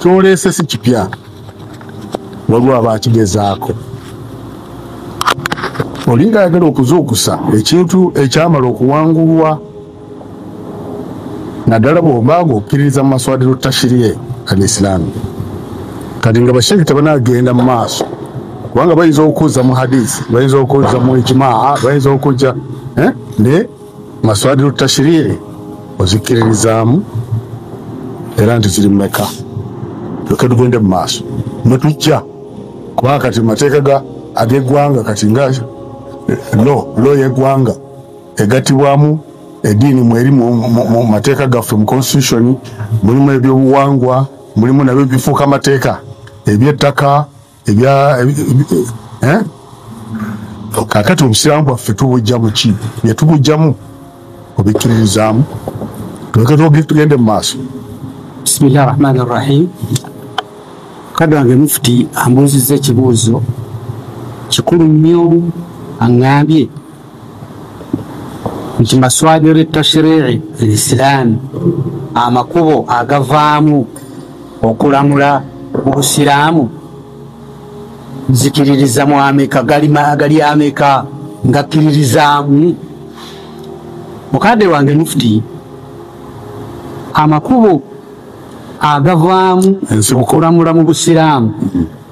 kyoleese si kipya waliwo aba akigezaako olinga ayagala okuzuukusa ekintu ekyamala okuwangulwa naddala bw'oba ng'okkiririza mu maswadiru tashiriye al isilaamu kati nga bashiriki tebanagenda mu maaso kubanga bayinza okuzza mu hadisi bayinza okuzza mu ijimaa bayinza okujja eh? ne maswadiru tashiriye ozikkiririzaamu era nti ziri mumeka lyoke tugende mu maaso netujja kubanga kati mu mateeka ag'eggwanga kati nga eh, lo lo y'eggwanga egatibwamu ediini mweri mu mateeka gaffe mu constitution mulimu ebyobuwangwa mulimu nabyo bifuuka amateeka ebyettaka ebya eh? kakati obusiraamu bwaffe tubujjamu ki byetubujjamu obikkiririzaamu tuleke tugende mu maaso bisimillahi rahmani rrahim kadde wange mufuti ambuuzizza ekibuuzo kikulu nnyo aŋambye nti maswadiru tashrici lisilaamu amakubo agavaamu okulamula mu busiraamu nzikiririza mu ameka gali ameka ngakkiririzaamu mukadde wange mufuti amakubo agavaamu okulamula mu busiraamu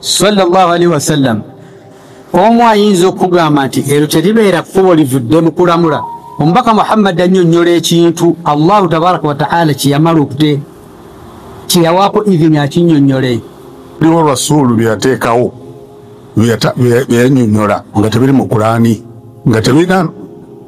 sallallahu alaihi wasallam omu ayinza okugamba nti ero teribeera kkubo livudde mu kulamula omubaka muhammadi annyonnyola ekintu allahu tabaraka wataala kyeyamala okute kyeyawaako ivini akinnyonnyole biwo rasuulu byeyateekawo byeyanyonnyola nga tebiri mu kulaani nga tebirina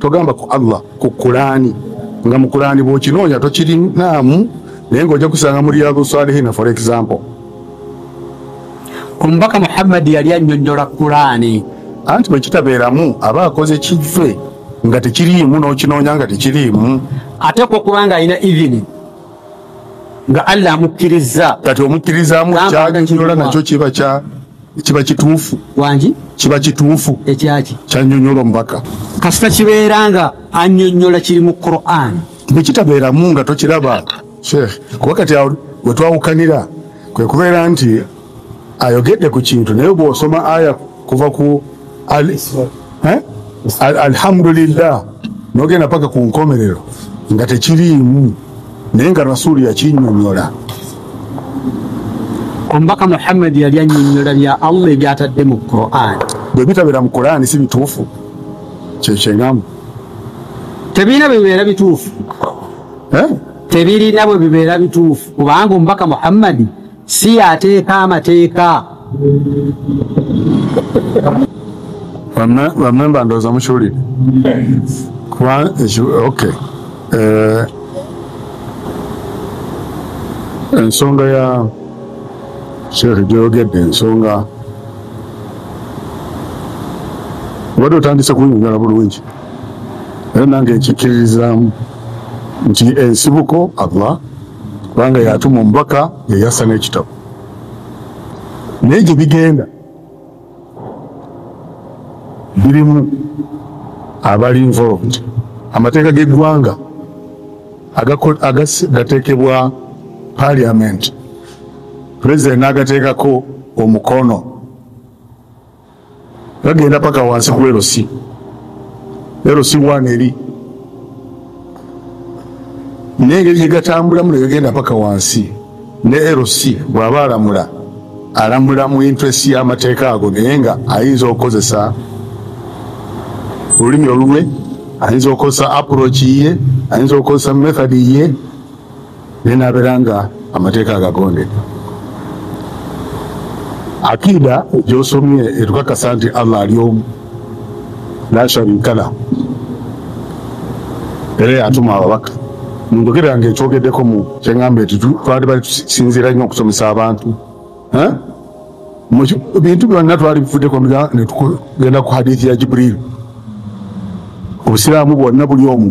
togamba ku allah ku kulaani nga mu kulaani bwokinoonya tokirinaamu naye ngaojja kusanga mu riyadu salihina for example omubaka muhammadi yali annyonnyola kulaani anti bwe kitabeeramu aba akoze kive nga tekiriimu n'okinoonya nga tekiriimu ate kwo kubanga alina ivini nga allah amukkirizza kati omukkirizaamu kyaganyola nakyo kiba kya kiba kituufu wangi kiba kituufu ekyaki kyanyonyola omubaka kasita kibeera nga anyonyola kiri mu quran bwekitabeeramu nga tokiraba sheikh kuba kati wetwawukanira kwe kubeera nti ayogedde ku kintu naye bwosoma aya kuva ku eh? alhamdulillah nogenda paka ku nkomerero nga tekiriimu naye nga rasuulu yakinyonyola omubaka muhammad yali anyonyola bya allah ebyatadde mu quran bwe bitabeera mu quran si bituufu kyekyengamu tebirina bwebibeera bituufu eh? tebirina bwe bibeera bituufu kubanga omubaka muhammadi si yateeka amateeka bamemba ndooza mukiwulire kuba ok eh, ensonga ya sheekh gyeyogedde ensonga obadde otandise kunyonyola bulungi era nange nkikkiririzaamu nti ensibuko allah kubanga yatuma omubaka yeyassa n'ekitabo naye gye bigenda birimu abali involved amateeka g'eggwanga gateekebwa parliament president n'agateekako omukono gagenda paka wansi ku erosi erosi wana eri naye engeri gyegatambulamu negagenda paka wansi ne erosi bwaba alamula alamula mu interest y'amateeka ago naye nga ayinza okukozesa olulimi olulwe ayinza okukozesa approach ye ayinza okukozesa method ye naye nabeera nga amateeka agagondeka akida gyosomye etukakasa nti allah ali omu lasharikala era yatuma ababaka munjogera nga ekyogedeko mu kyengamba eti twali bali tusinziira nnyo okusomesa abantu bintu byonna twali bifudeko netugenda ku hadithi ya jibril obusiraamu bwonna buli omu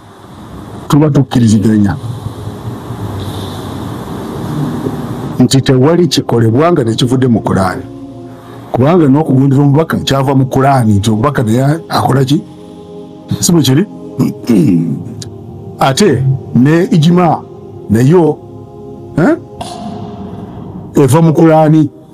tuba tukkiriziganya nti tewali kikolebwa nga tekivudde mu kulaani kubanga nokugondera omubaka kyava mu kulaani nti omubaka naye akola ki si bwe kiri ate ne ijima nayo eh? eva mu kulaani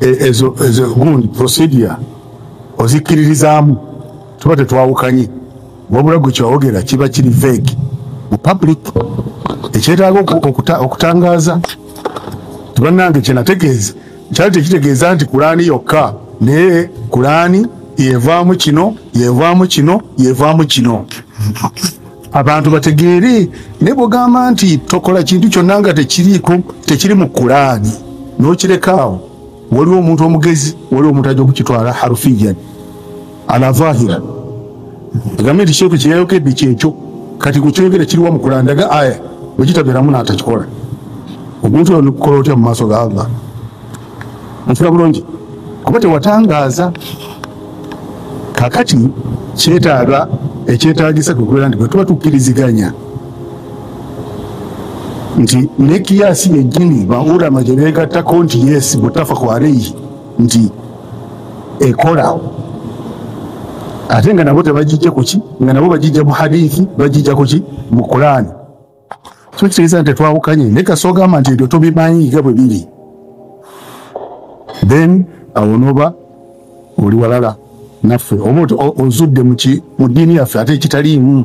ezo ezo gundi procedure ozikkiririzaamu tuba tetwawukanye wabula gwe kyawogera kiba kiri veg mu public ekyetaaga okutangaaza tibanange kyenategeeza kyali tekitegeeza nti kulaani yokka naye kulaani yevaamu kino yevaamu kino yevaamu kino abantu bategeere ne bwogamba nti tokola kintu kyonna nga tekiriiko tekiri mu kulaani nokirekaawo waliwo omuntu omugezi waliwo omuntu ajja okukitwala harufiyan alavahira egambe nti sheku kyeyayokedde kyekyo kati gwekyogera kiriwa mu kulaani daga aya bwekitabeeramu natakikola omuntu olikukola otya mu maaso ga allah nfira bulungi kuba tewatangaaza kakati kyetaaga ekyetagisa kwekubeera nti bwetuba tukkiriziganya nti nekiyasi yejjini baurama gyebegattako nti yes butafa kwareyi nti ekola ate nga nabo tebagijja kuki nga nabo bagijja mu hadithi bagijja kuki mu kulaani so kitegeeza nti tetwawukanye naye kasi ogamba nti ebyo tobimanyi nga bwe biri then awo noba oli walala naffe oba ozudde muki mu ddiini yaffe ate ekitaliimu